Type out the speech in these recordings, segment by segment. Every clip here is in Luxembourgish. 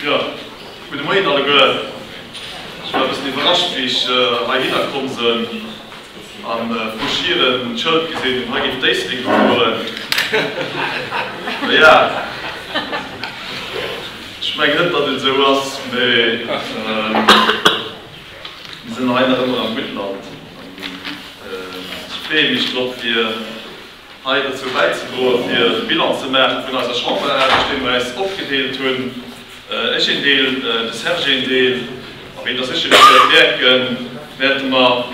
Jo, gudde Moien alleguer. Ech war e bëssen iwwerrascht, wéi ech heihinner komm sënn a vru Schieren d'Schëld gesinn hunn, hei géif d'Éislek fueren. Naja, ech mengen net, datt et esou ass, mee mir sinn hei nach ëmmer am Guttland an ech freeë mech drop, fir. Hei dozou bäizedroen, fir de Bilan ze maachen vun eiser Chamberarbecht, dee mer eis opgedeelt hunn, ech een Deel, de Serge een Deel. A wéi Der sécherlech wäert mierken, wäerte mer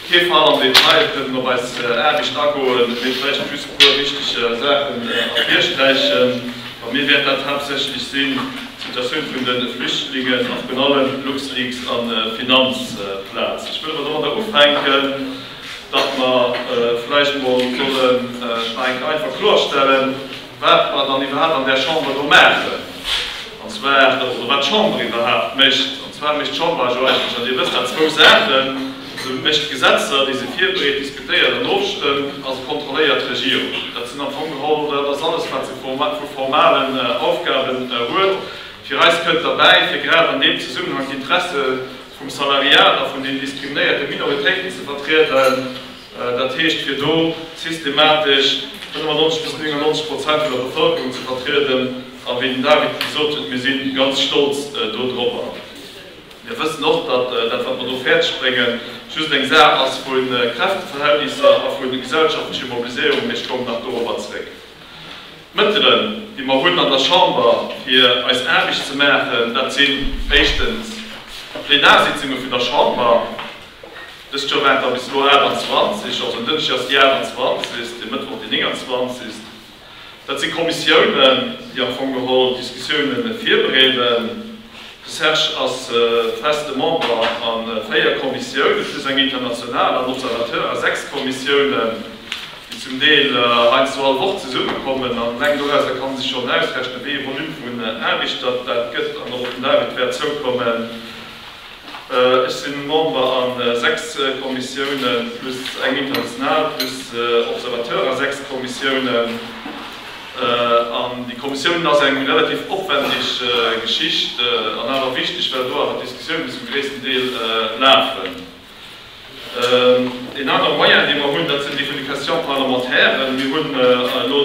kee Fall am Detail kënnen op eis Aarbecht agoen, mee vläicht just e puer wichteg Saachen ervirsträichen. Bei mir wäert dat haaptsächlech sinn d'Situatioun vun de Flüchtlingen a virun allem LuxLeaks a Finanzplaz. Ech wëll awer domadder ufänken, datt mer vläicht emol sollen nach eng Kéier einfach klorstellen, wat mer dann iwwerhaapt an där Chamber do maachen, an zwar, oder wat d'Chamber iwwerhaapt mécht. An zwar mécht d'Chamber ajo eigentlech, an Dir wësst dat, zwou Saachen, Se mécht Gesetzer, déi se virbereet, diskutéiert an ofstëmmt, a se kontrolléiert d'Regierung. Dat sinn am Fong geholl, dat ass alles, wat se vu formalen Aufgaben huet. Fir eis kënnt derbäi, fir grad an deem Zesummenhang d'Interesse vum Salariat a vun den diskriminéierte Minoritéiten ze vertrieden, dat heescht fir do systematesch 95 bis 99 Prozent vun der Bevëlkerung ze vertrieden. A wéi den David gesot huet, mir si ganz stolz dodropper. Mir wëssen och, datt dat, wat mer do fäerdeg bréngen, just eng Saach ass vu Kräfteverhältnisser a vu gesellschaftlecher Mobiliséierung, mee ech kommen nach dorobber zeréck. D'Mëttelen, déi mer hunn an der Chamber, fir eis Aarbecht ze maachen, dat sinn éischtens d'Plenarsitzunge vun der Chamber. Dëst Joer waren der bis elo 28, also en Dënschdeg ass déi 28. e Mëttwoch déi 29. Dat si Kommissiounen, déi am Fong geholl Diskussiounen virbereeden. De Serge ass feste Member a véier Kommissioune plus eng international an Observateur a sechs Kommissiounen, déi zum Deel heiansdo all Woch zesummekommen. An eleng dorauser ka sech schonn ausrechnen, wéi ee Volume vun Aarbecht dat dat gëtt an och op den David wäert zoukommen. Ech sinn Member a 6 Kommissiounen plus eng international plus Observateur a 6 Kommissiounen. An déi Kommissiounen ass eng relativ opwendeg Geschicht an awer wichteg, well do awer d'Diskussiounen zum gréissten Deel lafen. Een anere Moyen, dee mer hunn, dat sinn déi vun de Questions parlementaires. Mir hunn elo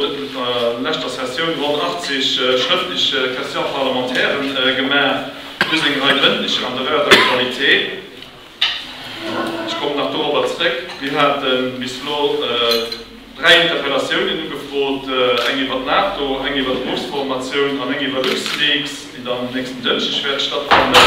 an leschter Sessioun ronn 80 schrëftlech Questions parlementaires gemaach, plus eng Rei mëndlecher an der Heure d'actualité. Ech kommen nach dorobber zrëck. Mir hate bis elo Dräi Interpellatiounen ugefrot, eng iwwer d'NATO, eng iwwer d'Berufsformatioun an eng iwwer LuxLeaks, déi dann um nächsten Dënschdeg wäert stattfannen.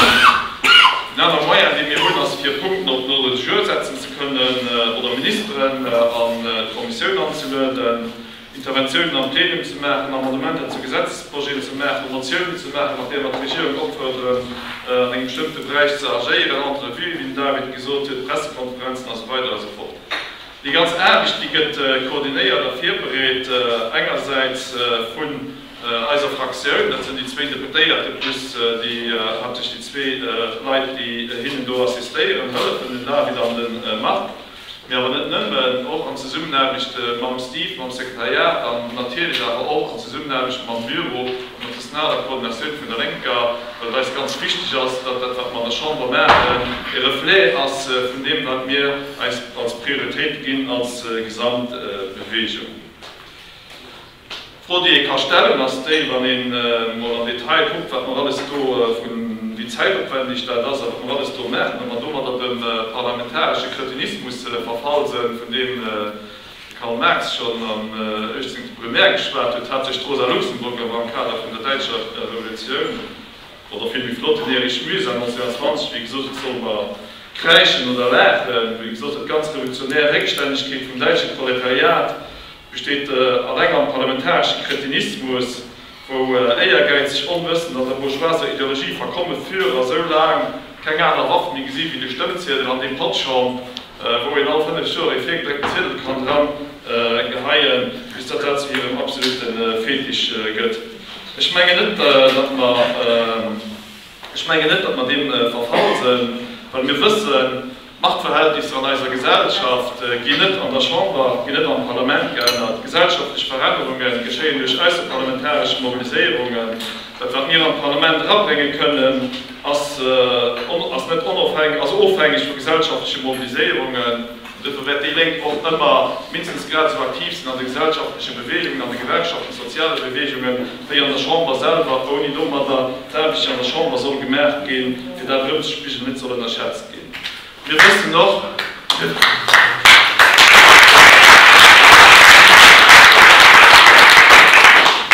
Een anere Moyen, dee mir hunn, ass fir Punkten op den Ordre du jour setzen ze kënnen oder Ministeren an d'Kommissioun anzelueden, Interventiounen am Plenum ze maachen, Amendementer zu Gesetzesprojeten ze maachen, Motiounen ze maachen, mat där mer d'Regierung opfuerderen, an engem bestëmmte Beräich ze agéieren, Entrevuë wéi den David gesot huet, Pressekonferenzen, a sou weider a sou fort. Déi ganz Aarbecht, déi gëtt koordinéiert a virbereet, engersäits vun eiser Fraktioun, dat sinn déi zwéin Deputéierte plus déi haaptsächlech déi zwee Leit, déi hinnen do assistéieren, hëllefen, den David an de Marc, mee awer net nëmmen, och an Zesummenaarbecht mam Steve, mam Sekretariat, an natierlech awer och an Zesummenaarbecht mam Büro. Internationaler Koordinatioun vun der Lénker, well et eis ganz wichteg ass, datt dat, wat mer an der Chamber maachen, e Reflet ass vun deem, wat mir eis als Prioritéit ginn als gesamt Bewegung. D'Fro, déi ee ka stellen, ass déi, wann ee mol am Detail kuckt, wat mer alles do vun, wéi zäitopwändeg dat ass a wat mer alles do maachen, ob mer domadder dem parlamentaresche Kretinismus verfall sënn, vun deem, De Karl Marx schonn am 18 de Brumaire geschwat huet, hat sech d'Rosa Luxemburg awer am Kader vun der Däitscher Revolutioun, oder vill méi flott, den Erich Mühsam 1920, wéi gesot, et soll mer kräischen oder laachen, wéi gesot, dat ganz revolutionär, Réckstännegkeet vum däitsche Proletariat besteet alleng am parlamentaresche Kretinismus. wou éiergäizeg Onwëssend an der bourgeoiser Ideologie verkomme fir a sou laang keng aner Waff méi gesi wéi de Stëmmziedel an dee Patschong, wou een all fënnef Joer ee virgedréckten Ziedel kann dran geheien, bis datt dat zu hirem absolute Fetisch gëtt. Ech mengen net, datt mer, ech mengen net, datt mer deem verfall sënn, well mir wëssen, D'Machtverhältnisser an eiser Gesellschaft ginn net an der Chamber, ginn net am Parlament geännert. Gesellschaftlech Verännerunge geschéien duerch ausserparlamentaresch Mobiliséierungen. Dat wat mir an d'Parlament erabrénge kënnen, ass ass net onofhängeg, ass ofhängeg vu gesellschaftleche Mobiliséierungen. Duerfir wäert déi Lénk och ëmmer mindestens grad esou aktiv sinn an de gesellschaftleche Beweegungen, an de Gewerkschaften, soziale Beweegungen, wéi an der Chamber selwer, ouni domadder d'Aarbecht déi an der Chamber soll gemaach ginn, fir dat erëmzespigelen, net soll ënnerschätzt ginn. Mir wëssen och,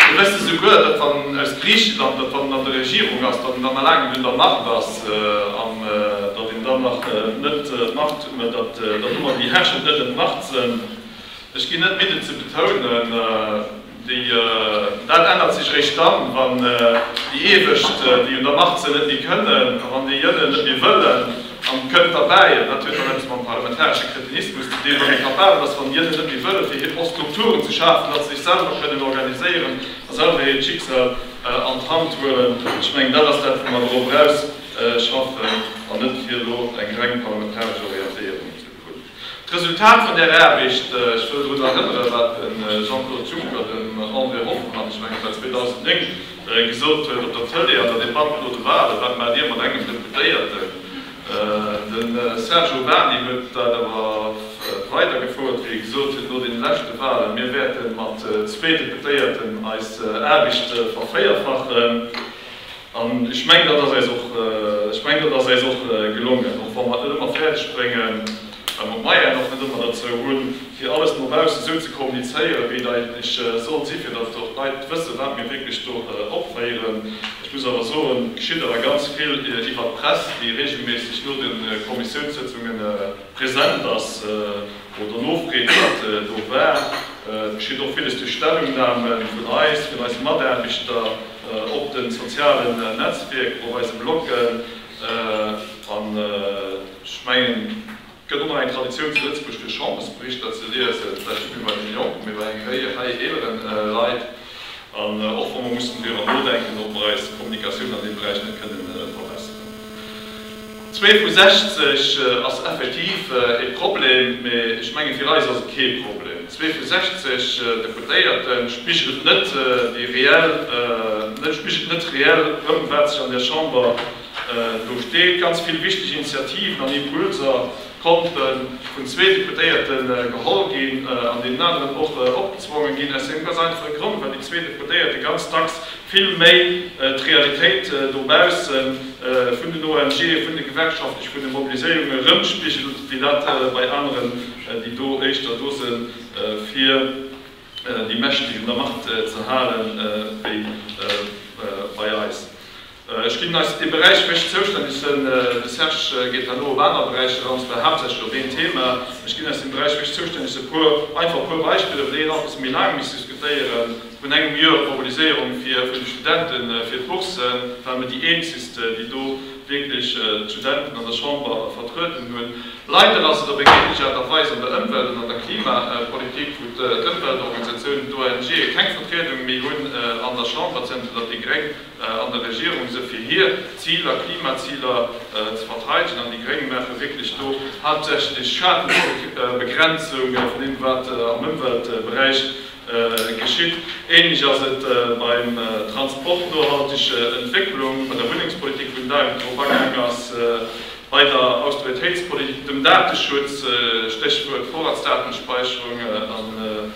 mir wëssen souguer, datt wann en aus Griichenland, datt wann en an der Regierung ass, datt en dann nach laang net un der Macht ass an datt een dann nach net d'Macht, mä datt elo mol déi Herrschend net un d'Macht sënn. Ech ginn net midden ze betounen, Dat ännert sech réischt dann, wann déi Iewescht, déi un der Macht sinn, net méi kënnen, a wann déi Jënnen net méi wëllen. An kënnt derbäi, an dat huet dann eppes mam parlamentaresche Kretinismus ze dinn, wann ee capabel ass, wann déi Jënnen net méi wëllen, fir hir Post Strukturen ze schafen, datt se sech selwer kënnen organiséieren a selwer hiert Schicksal an d'Hand huelen. Ech mengen, dat ass dat, wou mer drop eraus schaffen, an net fir elo eng reng parlamentaresch Orientéierung ze hunn. D'Resultat vun där Aarbecht, ech wëll drun erënnere wat de Jean-Claude Juncker, den André Hoffmann, ech mengen et war 2009, gesot huet op der Tëlee an der Debatt no de Walen, Wat maacht Dir mat engem Deputéierten? De Serge Urbany huet dat awer weidergefouert, wéi e gesot huet no deene leschte Walen, Mir wäerte mat zwee Deputéierten eis Aarbecht vervéierfachen. An ech mengen, dat ass eis och, ech mengen, dat ass eis och gelongen, och wa mer et net ëmmer fäerdeg bréngen, well mer d'Moyennen och net ëmmer derzou hunn, fir alles no baussen esou ze kommunizéieren, wéi et eigentlech sollt sinn, fir datt och d'Leit wëssen, wat mir wierklech do opféieren. Ech muss awer soen, et geschitt awer ganz vill iwwert d'Press, déi reegelméisseg no de Kommissiounssëtzunge present ass. Wou der Nofreen net do war, geschitt och villes duerch Stellungname vun eis, vun eise Mataarbechter op de sozialen Netzwierker, op eise Bloggen. An ech mengen, et gëtt och nach eng Traditioun zu Lëtzebuerg fir Chambersberichter ze liesen, vläicht net méi bei deene Jonken, mee bei enger Réie hei eeleren Leit. An och wa mer mussen driwwer nodenken, ob mer eis Kommunikatioun an deem Beräich net kënnen verbesseren. Zwee vu 60 ass effektiv e Problem, mä ech mengen, fir eis ass et kee Problem. Zwee vu 60 Deputéierte spigelt net déi reell, net spigelt net reell erëm, wat sech an där Chamber do steet. Ganz vill wichteg Initiativen an Impulser D'Pompte vun zwee Deputéierte geholl ginn an deenen aneren och opgezwonge ginn, aus deem ganz einfache Grond, well déi zwee Deputéierte ganz dacks vill méi d'Realitéit dobausse vun den ONGe, vun de gewerkschaftlech, vun de Mobiliséierunge rëmspigelen, wéi dat bei aneren, déi do éischter do se fir déi Mächteg un der Macht ze halen, wéi bei eis. Ech ginn eis dee Beräich méi zoustänneg, de Serge geet herno op aner Beräicher an, zwar haaptsächlech op een Thema. Ech ginn eis dee Beräich méi zoustänneg e puer einfach e puer Beispiller, wou déi een alt bësse méi laang misst diskutéieren. Vrun engem Joer d'Mobiliséierung fir vun de Studente fir d'Boursen, ware mir déi eenzegsten, déi do wierklech d'Studenten an der Chamber vertrueden hunn. Leider ass et op eng ähnlech Aart a Weis an der Ëmwelt an an der Klimapolitik, wou d'Ëmweltorganisatiounen, d'ONGe keng Vertriedung méi hunn an der Chamber, zënter datt déi Gréng an der Regierung se fir hir Ziler, Klimaziler, ze verteidegen an déi Gréng maache wierklech do haaptsächlech Schadenbegrenzung vun deem wat am Ëmweltberäich geschitt. Ähnlech ass et beim Transport, nohalteg Entwécklung, bei der Wunnengspolitik, wou den David drop agaang ass, bei der Austeritéitspolitik, dem Dateschutz, Stéchwuert Vorratsdatenspeicherung, an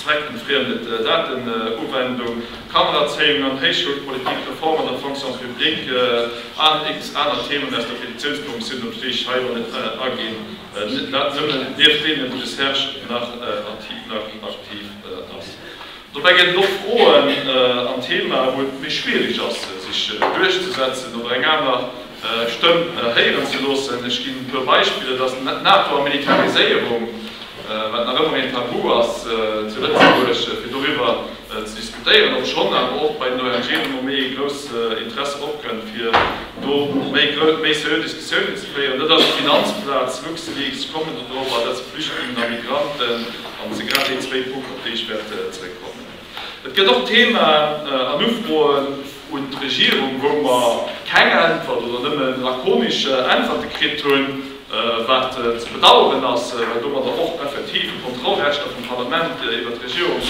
Zweckentfriemdet Datenuwendung, Kannererzéiung an Héichschoulpolitik, Reform an der Fonction publique an x aner Themen aus der Petitiounskommissioun, op déi ech hei elo net aginn, dat nëmmen nieft deenen, wou de Serge nach aktiv ass. Dobäi gëtt et och Froen an Themae, wou et méi schwierig ass, sech duerchzesetzen oder eng aner. Stëmm héieren ze loossen. Ech ginn e puer Beispiller, dass d'Nato a Militariséierung, wat nach ëmmer een Tabu ass zu Lëtzebuerg, fir doriwwer ze diskutéieren, obschonn awer och bei den ONGen ëmmer méi ee grouss Interesse opkënnt, fir do méi seriö Diskussiounen ze féieren. Dat ass d'Finanzplaz, LuxLeaks, kommen der drop, an dat si Flüchtlingen a Migranten. Dat si grad déi zwéi Punkten, op déi ech wäert zeréckkommen. Et gëtt och Themen an Ufroen un d'Regierung, wou mer keng Äntwert oder nëmmen lakonisch Äntwerte kritt hunn, wat ze bedauern ass, well domadder och effektiv de Kontrollrechter vum Parlament iwwert d'Regierung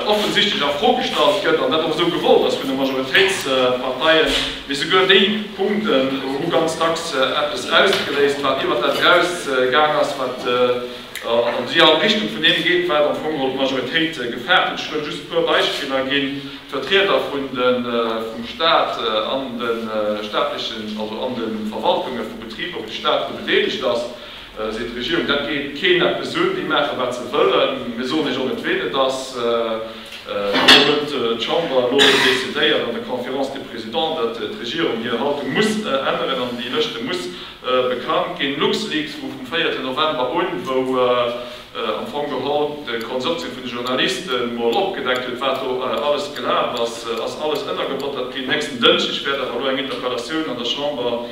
offensichtlech a Fro gestallt gëtt an dat och esou gewollt ass vun de Majoritéitsparteien. Mee souguer déi Punkten hu ganz dacks eppes ausgeléist, wat iwwert dat eraus gaang ass, wat an déi an Richtung vun deem geet, wat am Fong d'Majoritéit gefaart huet. Ech wëll just e puer Beispiller ginn. D'Vertrieder vum Staat an de staatlechen, also an de Verwaltunge vu Betriber, wou de Staat dru bedeelegt ass, seet d'Regierung, dat geet keen eppes un, déi maache wat se wëllen. Mir soen Iech och net, ween et ass. Elo huet d'Chamber elo decidéiert an der Conférence des Présidents, datt d'Regierung hir Haltung muss änneren an déi Lëschte muss Bekannt ginn LuxLeaks vu vum véierten November un, wou am Fong geholl de Konsortium vun de Journaliste mol opgedeckt huet, wat do alles gelaf ass. Ass alles ënnergebottert ginn? Nächsten Dënschdeg wäert awer elo eng Interpellatioun an der Chamber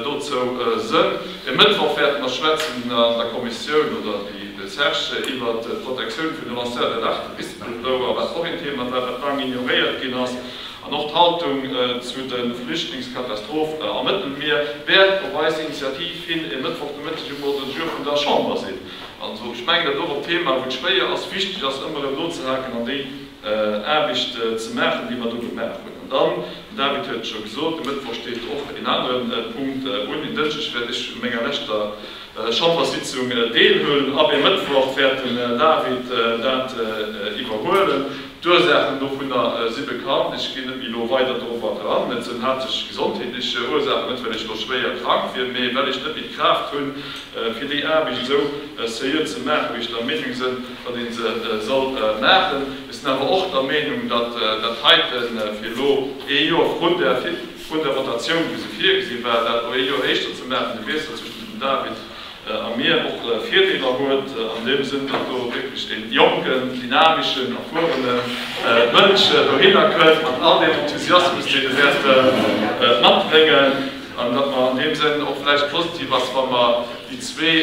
dozou sënn. E Mëttwoch wäerte mer schwätzen an der Kommissioun, oder déi, de Serge, iwwert d'Protektioun vun de Lanceurs d'alerte, Whistleblower, wat och een Thema war, wat laang ignoréiert ginn ass. An och d'Haltung zu de Flüchtlingskatastrophe am Mëttelmier wäert op eis Initiativ hin e Mëttwoch de Mëtteg um Ordre du jour vun der Chamber sinn. Also ech mengen, dat och op Thema, wou et schwéier ass, wichteg ass, ëmmer erëm nozehaken an déi Aarbecht ze maachen, déi mer do gemaach hunn. An dann, den David huet et scho gesot, de Mëttwoch steet och een anere Punkt un. Een Dënschdeg wäert ech un menger leschter Chamberssitzung deelhuelen, ab ee Mëttwoch wäert den David dat iwwerhuelen. D'Ursaachen dovunner si bekannt, ech ginn net méi elo weider dorobber dran. Et sinn haaptsächlech gesondheetlech Ursaachen, net well ech elo schwéier krank wier, mee well ech net méi d'Kraaft hunn, fir déi Aarbecht esou seriö ze maachen, wéi ech der Meenung sinn, datt ee se soll maachen. Ech sinn awer och der Meenung, datt dat heite fir elo ee Joer vrun der Votatioun, wéi se virgesi war, dat elo ee Joer éischter ze maachen, de Wiessel zwëschen dem David, a mir och Virdeeler huet an deem Sënn, datt do wierklech dee jonken, dynameschen, erfuerene Mënsch dohinner kënnt mat all deem Enthusiasmus, deen e wäerte matbréngen, an datt mer an deem Sënn och vläicht positiv ass, wa mer déi zwee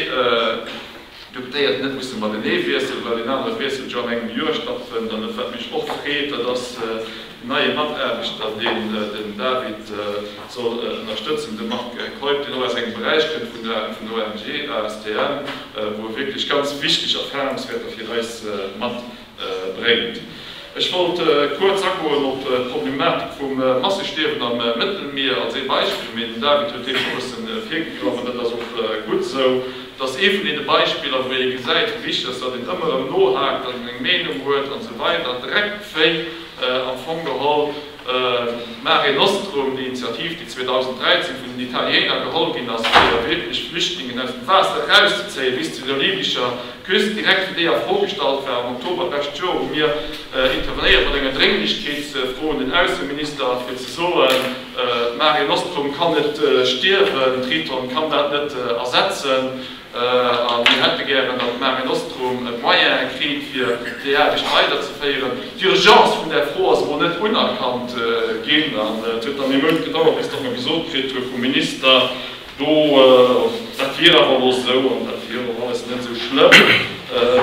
Deputéierten net musse matenee wiesselen, well deen anere Wiessel jo an engem Joer stattfënnt. An dat, wat mech och freet, dat ass, Neie Mataarbechter, deen den David soll ënnerstëtzen, de Marc Keup, deen och aus engem Beräich kënnt vun der ONG ASTM, wou e wierklech ganz wichteg Erfarungswäerter fir eis matbréngt. Ech wollt kuerz agoen op d'Problematik vum Massestierwen am Mëttelmier als ee Beispill, mee den David huet deem scho e bëssen virgegraff an dat ass och gutt esou. Et ass ee vun deene Beispiller, wou ee gesäit, wéi wichteg et ass, datt een ëmmer erëm nohaakt an eng Meenung huet an esou weider, dreckt d'Féi. Am Fong geholl Mare Nostrum, déi Initiativ, déi 2013 vun den Italiener geholl ginn ass, fir wierklech Flüchtlingen aus dem Waasser erauszezéien, bis zu der libyscher Küst, direkt wéi déi a Fro gestallt war am Oktober d'lescht Joer, hu mir intervenéiert mat enger Drénglechkeetsfro un den Ausseminister, fir ze soen, Mare Nostrum kann net stierwen, Triton kann dat net ersetzen. A mir hätte gären, datt Mare Nostrum e Moyen kritt, fir déi Aarbecht weiderzeféieren. D'Urgence vun där Fro ass emol net unerkannt ginn. An et huet dann ee Mount gedauert, bis datt mer gesot kritt hu vum Minister, do, dat wier awer elo esou an dat wier och alles net esou schlëmm,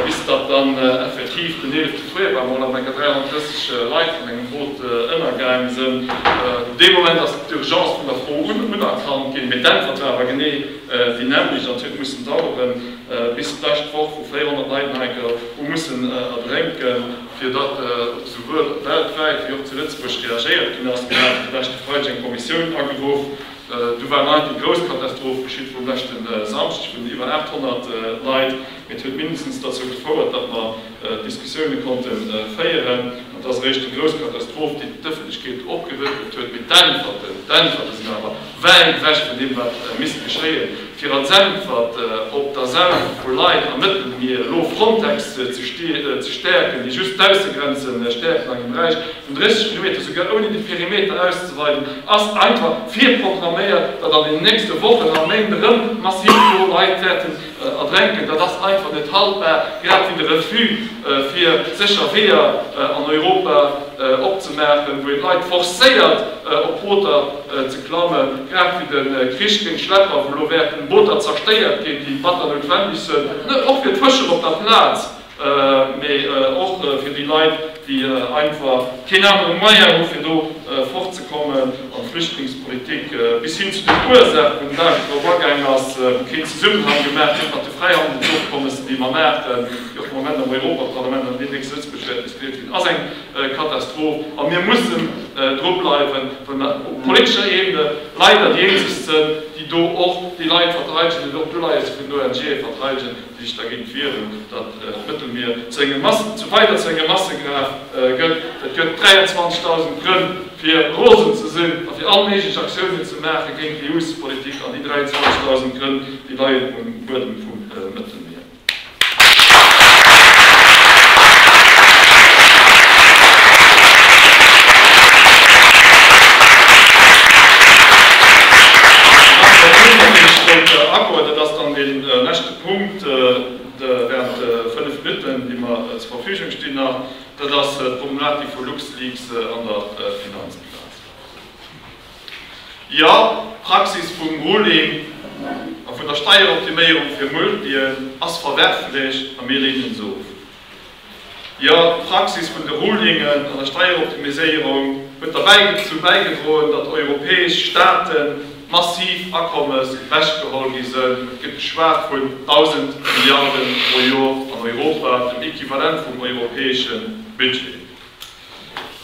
bis datt dann effektiv den eelefte Fréijoer emol am Enker 33 Leit vun engem Boot ënnergaang sinn. Dee Moment ass d'Urgence vun der Fro unerkannt ginn. Mee d'Äntwert war awer genee déi nämlech an d'huet mussen daueren, bis d'lescht Woch, wou 400 Leit nei gouf, hu mussen erdrénken, fir datt esouwuel weltwäit wéi och zu Lëtzebuerg reagéiert ginn ass. Mir haten de leschte Freideg eng Kommissioun ageruff, du war nei déi grouss Katastroph geschitt vum leschte Samschdeg vun den iwwer 800 Leit, mee et huet mindestens derzou gefouert, datt mer, Diskussioune konnte féieren. An et ass eréischt déi grouss Katastroph, déi d'Ëffentlechkeet opgerëttelt huet. Mee d'Äntwerten, d'Äntwerte sinn awer wäit ewech vun deem, wat misst geschéien, fir als Äntwert op d'Asauche vu Leit am Mëttelmier elo Frontex ze stäerken, déi just d'Baussegrenze stäerken an engem Beräich vun 30 Kilometer, esouguer ouni de Perimeter auszeweiden, ass einfach virprogramméiert, datt an den nächste Wochen a Méint erëm massiv do Leit wäerten Erdränken, dat ass einfach net haltbar, grad wéi de Refus fir sécher Weeër an Europa opzemaachen, wou een d'Leit forcéiert op Booter ze klammen, grad wéi de Krich géint Schlepper, wou elo wäerten Booter zerstéiert ginn, déi batter noutwendeg sënn, och fir d'Fëscher op der Plaz, mee och fir déi Leit, déi einfach keen anere Moyen hu fir do fort ze kommen, an d'Flüchtlingspolitik bis hin zu den Ursaach wou den David drop agaang ass, wou keen Zesummenhang gemaach gëtt mat de Fräihandelsofkommessen, déi mer maachen, déi och am Moment am Europaparlament an deemnächst zu Lëtzebuerg wäerten diskutéiert ginn, ass eng Katastroph. A mir mussen dru bleiwen, well mer op politescher Ebene leider déi eenzeg sinn, déi do och déi Leit verteidegen, déi och d'Uleies vun ONGe verteidegen. Sech dergéint wieren, datt d'Mëttelmier zu engem Massen, zu weider zu enger Massegraf gëtt. Et gëtt 23.000 Grënn fir rosen ze sinn a fir all méiglech Aktiounen ze maache géint d'EUspolitik an déi 23.000 Grënn, déi leien um Buedem vum Mëttelmier. An dann huet een nach dee Stréiter Accord, dat ass dann deen, E leschte Punkt, de während de fënnef Minutten, déi mer zur Verfügung stinn, nach, dat ass d'Problematik vu LuxLeaks an der Finanzbilanz. Jo, d'Praxis vum Ruling a vun der Steieroptiméierung fir Multien ass verwerflech a mir leenen se of. Jo, d'Praxis vun de Rulingen an der Steieroptimiséierung huet derbäizou bäigedroen, datt europäesch Staate massiv Akommes ewechgeholl gi sënn. Et gëtt geschwat vun 1.000 Milliarden pro Jor an Europa, dem Equivalent vum europäesche Budget.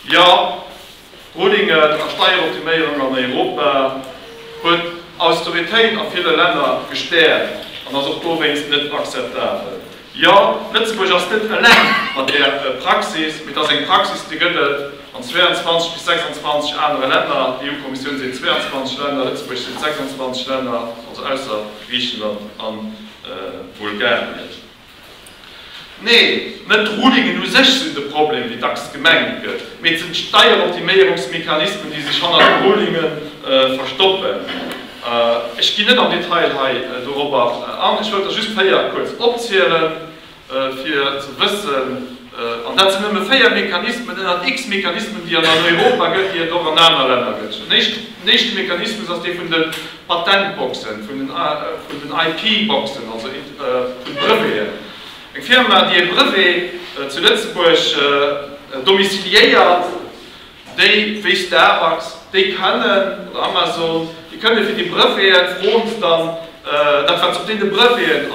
Jo! Rulingen a Steieroptiméierung an Europa huet Austeritéit a ville Länner gestäerkt an ass och dowéinst net akzeptabel. Jo, Lëtzebuerg ass net eleng mat där Praxis, mee et ass eng Praxis, déi gëtt et an 22 bis 26 anere Länner. D'EU-Kommissioun seet 22 Länner, Lëtzebuerg seet 26 Länner, also ausser Griichenland a Bulgarien. Neen, net d'Rulingen u sech sinn de Problem, wéi dacks gemengt gëtt, mee et sinn d'Steieroptiméierungsmechanismen, déi sech hannert de Rulinge verstoppen. Ech ginn net am Detail hei dorobber an. Ech wëllt der just véier kuerz opzielen, fir ze wëssen, An dat sinn nëmme véier Mechanismen ënnert x Mechanismen, déi et an Europa gëtt, déi et och an aner Länner gëtt. Den éischten Mechanismus ass dee vun de Patentboxen, vun den IP-Boxen, also vun de Breveten. Eng Firma, déi e Brevet zu Lëtzebuerg domiciliéiert, Déi wéi Starbucks, déi kënnen, oder Amazon, déi kënnen fir déi Breveten, froen se dann, dat wat se op deene Breveten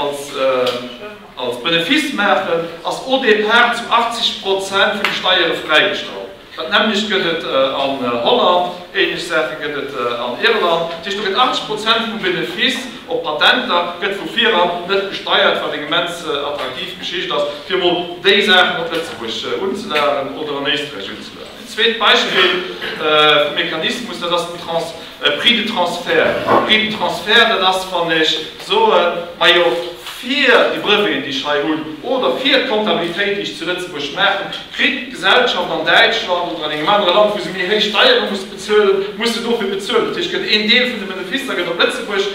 als Benefice maachen, ass au départ zu 80 Prozent vun de Steiere fräigestallt. Dat nämmlecht gëtt et an Holland, ähnlech Saache gëtt et an Irland. Dat heescht, do gëtt 80 Prozent vum Benefice op Patenter gëtt vu vir eran net besteiert, wat eng immens attraktiv Geschicht ass, fir emol déi Saachen op Lëtzebuerg unzelageren oder an Éisträich unzelageren. Een zweet Beispill vum Mechanismus, dat ass den Prix de transfert. De Prix de transfert, dat ass, wann ech soe majo fir déi Breveten, déi ech hei hunn, oder fir d'Kontabilitéit, déi ech zu Lëtzebuerg maachen, kritt d'Gesellschaft an Däitschland oder an engem anere Land, wou se méi héich Steiere muss bezuelen, muss se dofir bezuelen. Dat heescht, gëtt een Deel vun de Beneficer gëtt op Lëtzebuerg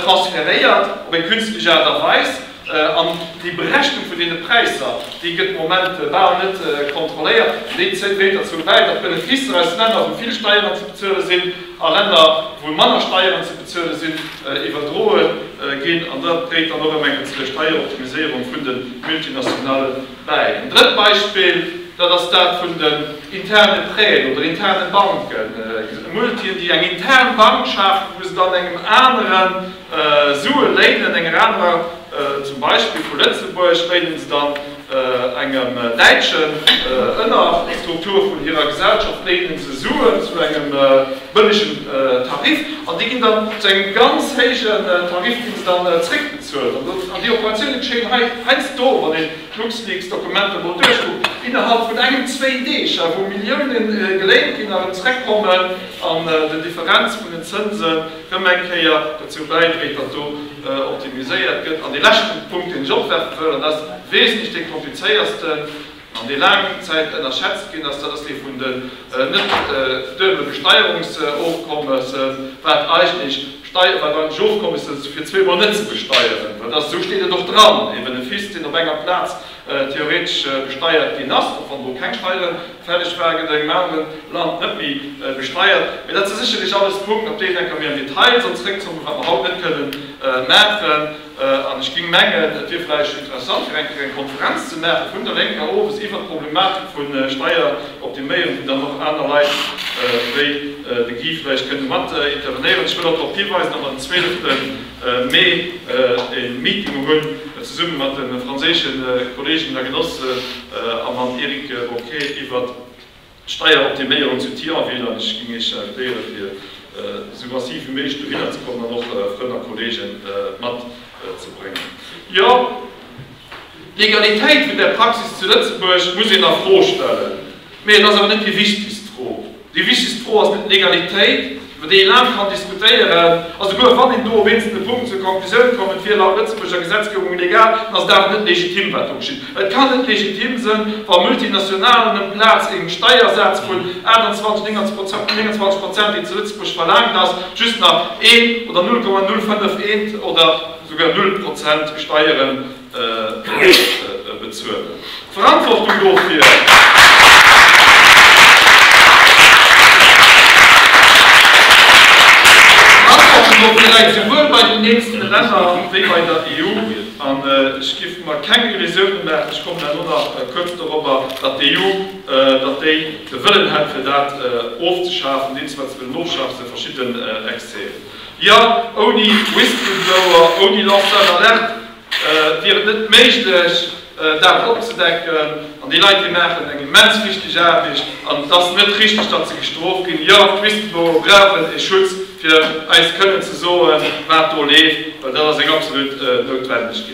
transferéiert op eng künstlech Aart a Weis. An déi Berechnung vun deene Präisser, déi gëtt de Moment bal net kontrolléiert. Déi dréit derzou bäi, datt d'Beneficer aus Länner, wou vill Steieren ze bezuele sinn, a Länner, wou manner Steieren ze bezuele sinn, iwwerdroe ginn. An dat dréit dann och ëm eng ze Steieroptimiséierung vun de Multinationale bäi. En drëtt Beispill, dat ass dat vun den interne Prêten oder interne Banken. Multien, déi eng intern Bank schafen, wou se dann engem aneren, Sue léinen enger anerer, zum Beispill vu Lëtzebuerg, léinen se dann engem Däitschen. Ënner Strukture vun hirer Gesellschaft léinen se Suen zu engem bëllegen Tarif, an déi ginn dann zu engem ganz héijen Tarif ginn se dann zréckbezuelt. An déi Operatioune geschéien hei, heiansdo, wann een d'LuxLeaks-Dokumenter emol duerchkuckt, innerhalb vun engem, zwéin Deeg, wou Millioune geléint ginn a erëm zréckkommen an den Differenz vun den Zënsen, rëm eng Kéier dozou bäidréit, datt do optimiséiert gëtt. An dee leschten Punkt, deen ech opwerfen wëll, an dat ass wesentlech dee komplizéiersten an dee laang Zäit ënnerschätzt ginn ass, dat ass dee vun den net duebele Besteierungsofkommesse, wat eigentlech Steier, wat eigentlech Ofkommesse fir zweemol net ze besteieren, well dat, esou steet et och dran, ee Benefice, deen op enger Plaz theoretesch besteiert ginn ass, och wann do keng Steieren, Fälleg war, gëtt engem aneren Land net méi besteiert. Mee dat si sécherlech alles Punkten, op déi enker mir am Detail soll zréckzocken, wat mer haut net kënnen maachen. An ech géing mengen, et wier vläicht interessant, fir eng Kéier eng Konferenz ze maache vun der Lénker owes iwwert d'Problematik vu Steier op de Méieren, wou dann och aner Leit wéi de Guy vläicht kënne mat intervenéieren. Ech wëll och drop hiweisen, datt mer den zweeleften Mee e Meeting hunn, zesumme mat de franséische Kolleegen a Genossen a mam Eric Boquet, iwwer d'Steieroptiméierung zu Thionville. An ech géing Iech invitéiere fir esou massiv wéi méiglech dohinner ze kommen an och Frënn a Kolleegen mat ze bréngen. Jo, d'Legalitéit vun där Praxis zu Lëtzebuerg muss een a Fro stellen, mee et ass awer net déi wichtegst Fro. Déi wichtegst Fro ass net d'Legalitéit, iwwer déi ee laang kann diskutéieren, a souguer wann een do op eenzelne Punkten zur Konklusioun kommen, et wier laut Lëtzebuurger Gesetzgebung legal, dann ass et awer net legitim, wat do geschitt. Et kann net legitim sënn, wa Multinationalen emplaz ee Steiersaz vun 28, 29 Prozent, deen zu Lëtzebuerg verlaangt ass, just nach een oder 0,051 oder souguer null Prozent Steieren ze bezuelen. D'Verantwortung dofir läit souwuel bei den eenzelne Länner wéi bei der EU. An ech géif mer keng Illusiounen maachen, ech kommen herno nach kuerz dorobber, datt d'EU, datt déi de Wëllen hätt fir dat ofzeschafen, deen zwar ze wëllen ofschafen, zu verschiddenen Exzesen. Jo, ouni Whistleblower, ouni Lanceur d'alerte wier et net méiglech, dat opzedecken. An déi Leit, déi maachen eng immens wichteg Aarbecht. An et ass net richtig, datt se gestrooft ginn. Jo, d'Whistleblower brauchen e Schutz, fir eis kënnen ze soen, wat do leeft, well dat ass eng absolut Noutwendegkeet.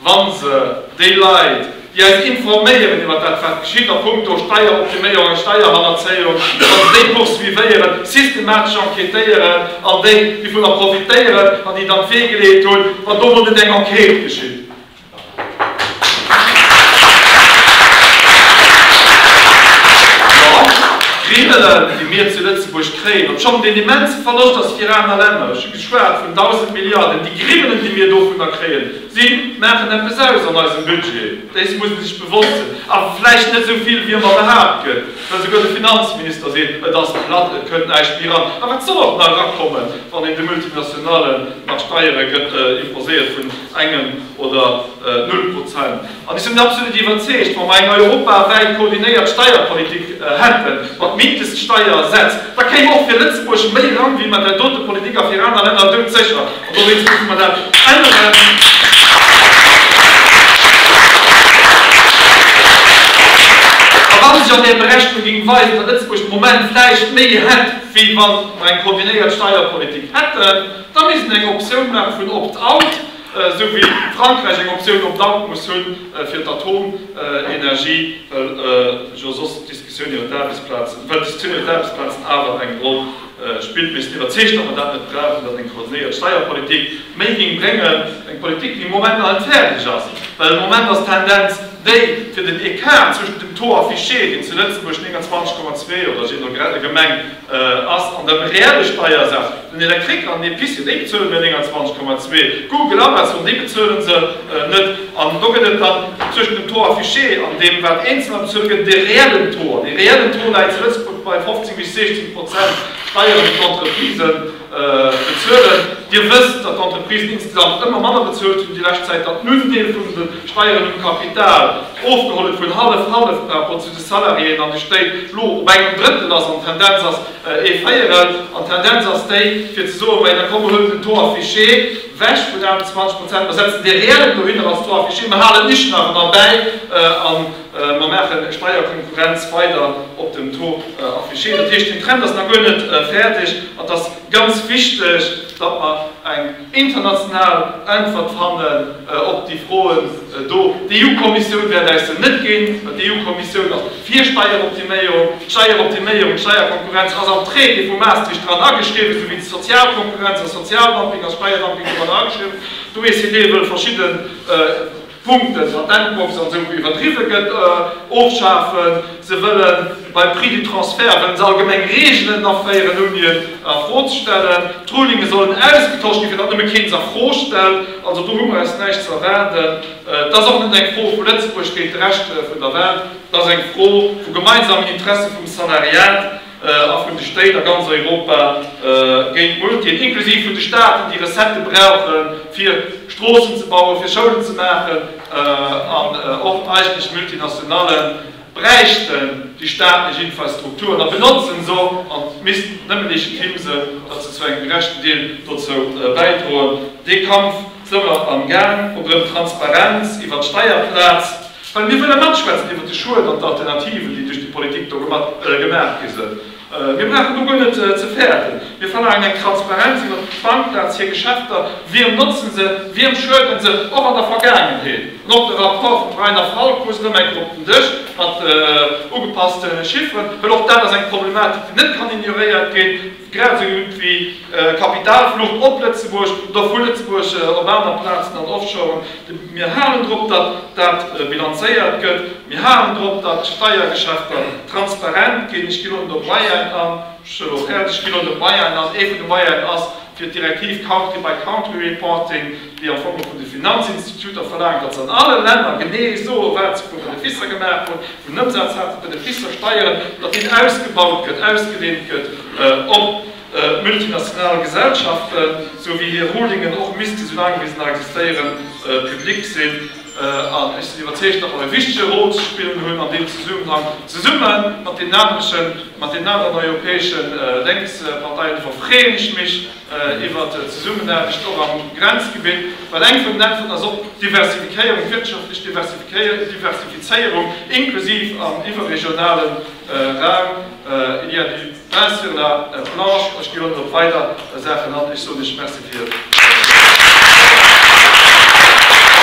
wann se déi Leit, déi eis informéieren iwwert dat, wat geschitt a punkto Steieroptiméierung a Steierhannerzéiung, wa se déi poursuivéieren, systematesch enquêtéieren an déi, déi vunner profitéieren an déi dann d'Wee geleet hunn, wann do mol net eng Enquête geschitt. Dann d'Kriminellen, déi mir zu Lëtzebuerg kréien, obschonn et een immense Verloscht ass fir aner Länner, ech hu geschwat vun 1.000 Milliarden, déi Kriminellen, déi mir dovunner kréien, Si maachen eppes aus an eisem Budget, dees muss ee sech bewosst sinn. Awer vläicht net esou vill, wéi ëmmer behaapt gëtt, well esouguer de Finanzminister seet, et ass platt, et kënnt näischt méi eran. A wat soll och nach erakommen, wann een de Multinationalen nach Steiere gëtt imposéiert vun engem oder null Prozent? An ech sinn absolut iwwerzeegt, wa mer eng europawäit koordinéiert Steierpolitik hätten, mat Mindeststeiersätz, da kéim och fir Lëtzebuerg méi eran, wéi mat där dote Politik a fir aner Länner doudsécher. An dowéinst musse mer dat änneren. A wa sech an där Berechnung géing weisen, datt Lëtzebuerg de Moment vläicht méi hätt, wéi wa mer eng koordinéiert Steierpolitik hätten, da misst een eng Optioun maache vun Opt-out, esou wéi Frankräich eng Optioun op Land muss hu fir d'Atomenergie, well jo soss d'Diskussioun iwwer d'Aarbechtsplazen awer eng Roll spillt. Mir sinn iwwerzeegt, datt mer dat net brauchen, datt eng koordinéiert Steierpolitik méi géing bréngen, eng Politik, déi am Moment nach net fäerdeg ass, well am Moment ass d'Tendenz déi, fir den Ecart zwëschent dem Taux affiché, deen zu Lëtzebuerg 29,2 oder je no Gemeng Ass an der reelle Steiersaz den Elektrik an d'Epicerie, déi bezuelen nëmme 29 Komma 2, Google, Amazon, déi bezuelen se net. An do gëtt et dann tëschent dem Taux affiché an deem, wat Eenzelner bezuele gëtt, de reellen Taux. An dee reellen Taux läit zu Lëtzebuerg bei 15 bis 16 Prozent Steieren op d'Entreprisen. Bezuelen. Dir wësst, datt d'Entreprisen insgesamt ëmmer manner bezuelt hunn déi lescht Zäit, datt den Undeel vun de Steieren um Kapital ofgeholl huet, vun hallef-hallef par rapport zu de Salariéen an de Stéit, elo op engem Drëttel ass an d'Tendenz ass ee Véierel. An d'Tendenz ass déi, fir ze soen, Majo, komm, mer huelen den Taux affiché wech vun 28 Prozent, mer setzen dee reellen Taux hinner als Taux affiché, mer halen nichtnach erbäi an, Mer maachen Steierkonkurrenz weider op dem Taux affiché. Dat heescht, den Trend ass nach guer net fäerdeg an et ass ganz wichteg, datt mer eng international Äntwert fannen op déi Froen do. D'EU-Kommissioun wäert äis se net ginn, well d'EU-Kommissioun ass fir Steieroptiméierung. Steieroptiméierung, Steierkonkurrenz ass am Traité vu Maastricht dran ageschriwwen, esou wéi Sozialkonkurrenz a Sozialdumping a Steierdumping doranner ageschriwwen. D'OECD wëll verschidde. Punkten, Patentbox an esou iwwerdriwwe gëtt, ofschafen. Se wëlle beim Prix du transfert wëlle se allgemeng Reegelen aféieren, ouni en a Fro ze stellen. D'Rulinge sollen ausgetosch ginn, fir datt nëmme keen se a Fro stellt. Also do hu mer eis näischt ze erwaarden. Et ass och net eng Fro vu Lëtzebuerg géint de Rescht vun der Welt, et ass eng Fro vu gemeinsamen Interesse vum Salariat. a vun de Stéit a ganz Europa géint d'Multien, inklusiv vun de Staaten, déi Recettë brauchen, fir Stroossen ze bauen, fir Schoulen ze maachen, an och eigentlech Multinationale bräichten déi staatlech Infrastrukturen a benotzen se och an missten nëmme legitime sinn, datt se zu engem gerechten Deel dozou bäidroen, dee Kampf. Zëmmer am Gaang, och erëm Transparenz iwwert d'Steierplaz, well mir wëlle matschwätzen iwwert de Schued an d'Alternativen, déi duerch déi Politik do gemaach gi sinn. Mir brauchen do guer net ze fäerten. Mir verlaangen eng Transparenz iwwert d'Bankplaz, hir Geschäfter, wiem notze se, wiem schuede se, och an der Vergaangenheet. An och de Rapport vum Reiner Falk muss erëm eng Kéier op den Dësch, mat ugepasste Chifferen, well och dat ass eng Problematik, déi net kann ignoréiert ginn. Grad esou gutt wéi Kapitalflucht op Lëtzebuerg oder vu Lëtzebuerg op aner Plazen an Offshoren. Mir halen drop, datt dat bilanzéiert gëtt. Mir halen drop, datt d'Steiergeschäfter transparent ginn. Ech ginn elo net op Bayern an. Ech soen och äerlech, ech ginn elo net op Bayern an. Ee vun de Bayern ass fir d'Direktiv Country-by-Country-Reporting. déi am Fong vun de Finanzinstituter verlaangen, datt se an alle Länner genee soen, wat se vu Beneficer gemaach hunn, vun Ëmsaz haten, Beneficer, Steieren, datt deen ausgebaut gëtt, ausgedehnt gëtt op multinational Gesellschaften, sou wéi hir Rulingen och misste, soulaang wéi se nach existéieren, public sinn. An ech sinn iwwerzeegt, datt mer e wichtege Rôle ze spillen hunn an deem Zesummenhang, zesumme mat deenen anere, mat deenen aneren europäesche Lénksparteien. Dofir freeën ech mech, iwwer d'Zesummenaarbecht och am Grenzgebitt, well eng vun den Äntwerten ass och d'Diversifikéierung, d'wirtschaftlech Diversifizéierung, inklusiv am iwwerregionale Raum, il y a du pain sur la planche. Ech ginn och nach op weider Saachen an. Ech soen lech Merci fir Är Opmierksamkeet.